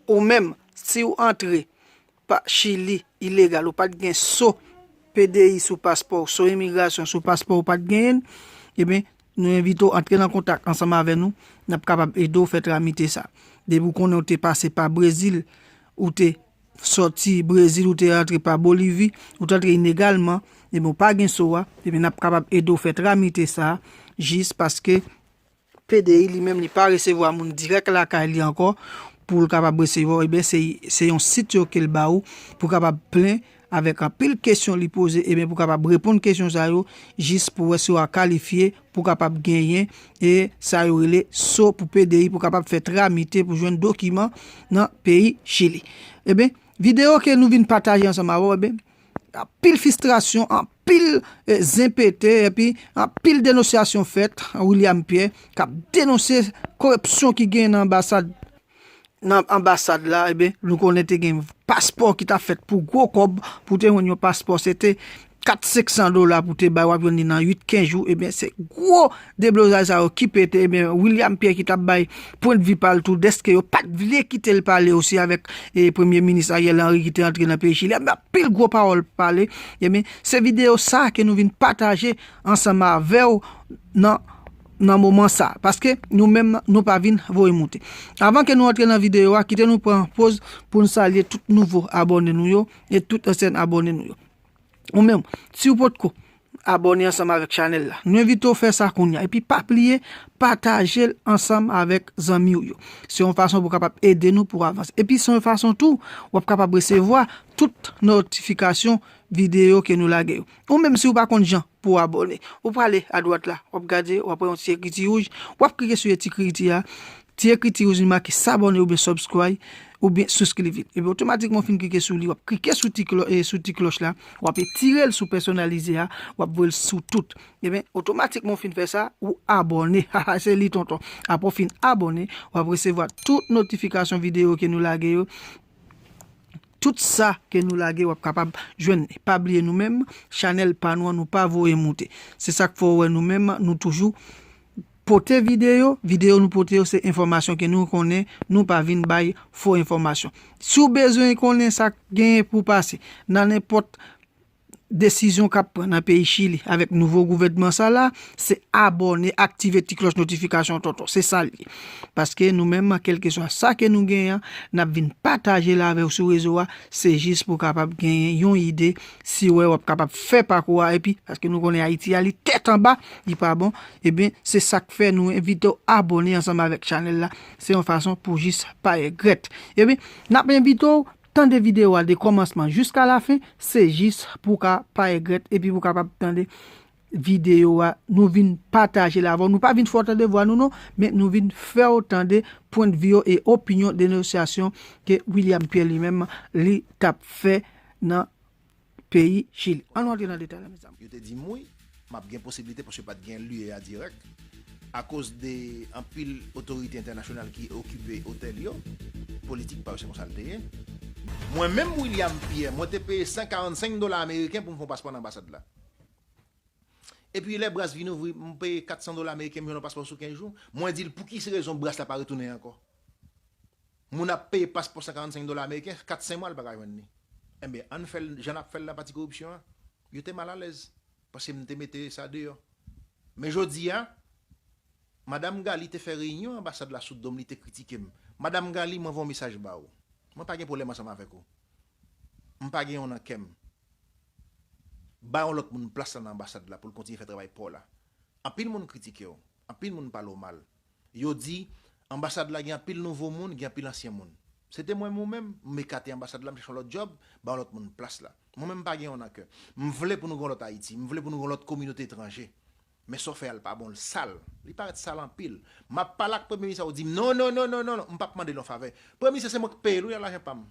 Ou menm siw antre pa chili ilegal ou pat gen so PDI sou paspòw so imigrasyon sou paspòw ou pat genyenl ebyen nou envitew antre nan kontak ansanm avè nou nap kapab edew fè tramite sa depi ou konnen ou te pase pa brezil ou te sòti brezil ou te antre pa bolivi ou te antre inegalman ebyen ou pa gen so a ebyen nap kapab edew fè tramite sa jis paske PDI li menm li pa resevwa moun dirèk lakay li ankò pou l kapab resevwa w ebyen se yon sit yo ke l ba ou pou w kapab plen avèk anpil kesyon li poze ebyen pou w kapab reponn kesyon sa yo jis pou wè si wa kalifye pou w kapab genyen e sa yo rele so pou PDI pou w kapab fè tramite pou jwenn dokiman nan peyi chili ebyen videyo ke nou vin pataje ansanm avè w ebyen anpil fistrasyon anpil zen pete epi anpil denosyasyon fèt William Pierre kap denonse koripsyon ki gen nan anbasad nan anbasad la e ben nou konnen te gen paspò ki ta fèt pou gwo kòb pou te yon paspò se te 4 500 dola pou te bay wap jwenn li nan 8 15 jou e ben se gwo Deblozay sa yo ki pete ebyen William Pierre ki tap bay pwendvi pal tou deske yo pat vle kitel pale osi avèk premye minis Ariel Henry ki te antre nan peyi chili anba pil gwo pawòl pale ebyen se video sa ke nou vin pataje ansanm avèw nan nan moman sa paske nou menm nou pa vin voye moute avan ke nou antre nan video a kite nou pran poz poun salye tout nouvo abòne nou yo e tout ansyen abòne nou yo. Ou menm, siw potko Abòne ansanm avèk chanèl la, nou envitew fè sa kounya, epi pa bliye patajel ansanm avèk zanmiw yo, se yon fason pou kapab ede nou pou avanse, epi se yon fason tou wap kapab resevwa tout notifikasyon videyo ke nou lage yo, ou menm siw pa konn jan pouw abòne, ou prale adwat la wap gade wap wè yon ti ekriti wouj, wap klike sou etikritia Ti ekriti rouj li make s'abonner oubyen subscry oubyen susclive epi otomatikman ou fin klike sou li wap klike sou ti sou ti klòch la wap etirel sou pèsonalize a wap voyel sou tout ebyen otomatikman ou fin fè sa ou abòne haha se li tonton aprè ou fin abòne wap resevwa tout notifikasyon videyo ke nou lage yo tout sa ke nou lage wap kapab jwenn li pa bliye nou menm chanèl pa nou an nou pa voye moute se sak fè ou wè nou menm nou toujou Pote videyo, videyo nou pote yo se enfòmasyon ke nou konnen, nou pa vin bay fo enfòmasyon. Si w bezwen konnen sa k genyen pou pase nan nenpòt desizyon k ap pran nan peyi Chili avèk nouvo gouvènman sa la, se abòne, aktive ti klòch notifikasyon tonton. Se sa l ye. Paske nou menm, kèlkeswa sa ke nou genyen, n ap vin pataje l avè w sou rezo a, se jis pou w kapab genyen yon ide, Si wè wap kapab fè pakou a epi paske nou konnen Ayiti a li tèt anba, li pa bon, ebyen se sak fè nou envite w abone ansanm avèk chanèl la, se yon fason pou jis pa regrèt. Ebyen nap envite w tande video a de kòmansman jiska lafen, se jis pou w ka pa regrèt epi pou w kapab tande Video a nou vin patajel avèw nou pa vin fèw tande vwa nou non men nou vin fèw tande pwendvi yo e opinyon denosyasyon ke William Pierre li menm li tap fè nan peyi chili an nou antre nan detay la mezanmi. Yo te di m wi, m ap gen posiblite paske pa t gen lye a dirèk, akoz de anpil otorite entènasyonal ki okipe otèl yo, politik pa yo se konsa l te ye. Mwen menm William Pierre, mwen te peye 145 dola ameriken pou m fè yon paspò nan anbasad la. Epi lè bras vin ouvri, m peye 400 dola meriken m jwenn yon paspò sou 15 jou. Mwen di l pou ki rezon bras la pa retounen ankò. Moun ap peye paspò 145 dola ameriken, 4 5 mwa l pa ka jwenn li. Enben ann fè l jan n ap fè l nan pati koripsyon an. Yo te mal alèz paske m te mete sa deyò. Men jodi a, Madam Gali te fè reyinyon anbasad la sou do m li te kritike m. Madam Gali mwen voye yon mesaj ba ou. Mwen pa gen pwoblèm ansanm avèk ou. M pa gen yon nan kè m. Ba yon lòt moun plas la nan anbasad la poul kontinye fè travay paw la. Anpil moun kritikew, anpil moun pale w mal. Yo di, anbasad la gen anpil nouvo moun, gen anpil ansyen moun. Se te mwen menm ou menm, m ekate anbasad la m chache yon lòt djòb, ba yon lòt moun plas la. Mwen menm m pa gen yon nan kè. M vle pou nou gen yon lòt Ayiti, m vle pou nou gen yon lòt kominote etranje. Men sòfè a l pa bon l sal. Li parèt sal anpil. M ap pale ak premye minis la ou di m non non non non non m pap mande l yon favè. Premye minis la se mwen k peye l wi ak lajan pa m.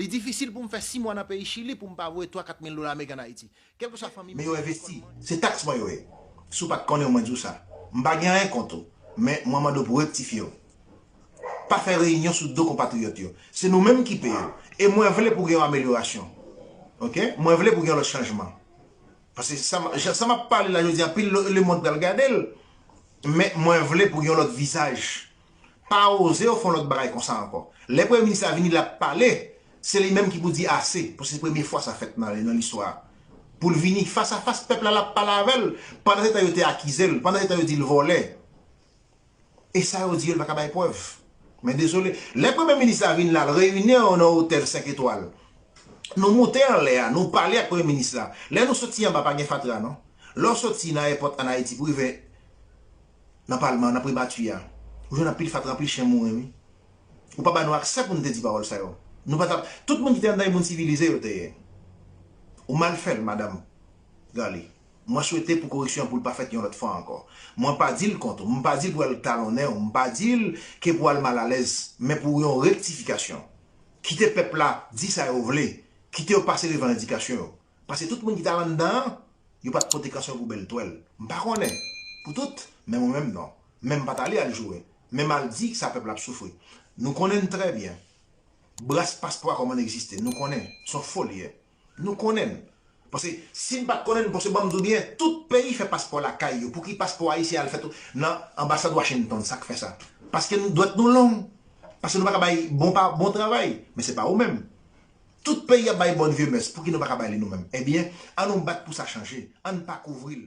Li difisil pou m fè si mwa nan peyi Chili pou m pa voye twa kat mil dola ameriken an Ayiti. Kèlkeswa fanmi m. Men yo envesti. Se taks mwen yo ye. Si w pa t konnen w mwen di w sa. M pa gen anyen kont ou. Men mwen mande w pou rektifye w. Pa fè reyinyon sou do konpatriyòt yo. Se nou menm ki peye w. E mwen vle pou gen yon amelyorasyon. Ok? Mwen vle pou gen yon lòt chanjman. Paske sa m ap pale la jodi a anpil lemond pral gade l men mwen vle pou gen yon lòt vizaj. Pa oze yo fè yon lòt bagay konsa ankò. Lè premye minis la vini l ap pale se li menm ki pou di ase pou se premye fwa sa fèt nan listwa a. Pou l vini fas a fas pèp la l ap pale avè l pandan se tan yo te akize l, pandan se tan yo di l vòlè. E sa yo di yo l pa ka bay prèv. Men dezole. Lè premye minis la vin la l reyini yo nan otèl 5 etwal. Nou moute anlè a, nou pale ak premye minis la. Lè nou soti anba pa gen fatra non. Lè w soti nan èpòt an Ayiti pou rive nan palman, nan pribati a, ou jwenn anpil fatra, anpil chen mouri wi. Ou pa ba nou aksè pou nou te di pawòl sa yo. Nou pa tap, tout moun ki te anndan yo moun sivilize yo te ye. Ou mal fè l madam Garlie. Mwen swete pou koreksyon an pou l pa fèt yon lòt fwa ankò. Mwen pa di l kont ou, m pa di l pou al talonnen ou, m pa di l ke pou al malalèz, men pou yon rektifikasyon. Kite pèp la di sa yo vle, kite yo pase revandikasyon yo. Pase tout moun ki ta landan an, yo pa t pote kansyon pou bèl twèl. M pa konnen pou tout, men mwen menm non. Men m pa t ale al joure, men m al di sa pèp la ap soufri. Nou konnen n trè byen. Bras paspò a kòmann egziste, nou konnen, s on fo li ye. Nou konnen n. Pase si n pat konnen n pase banm di w byen tout peyi fè paspò lakay yo pouki paspò ayisyen al fèt nan anbasad Washington sak fè sa paske n dwèt nou long pase nou paka bay bon pa bon travay men se pa ou menm tout peyi ap bay bòn vye mès pouki nou paka bay li nou menm ebyen an nou bat pou sa chanje an n pa kouvri l.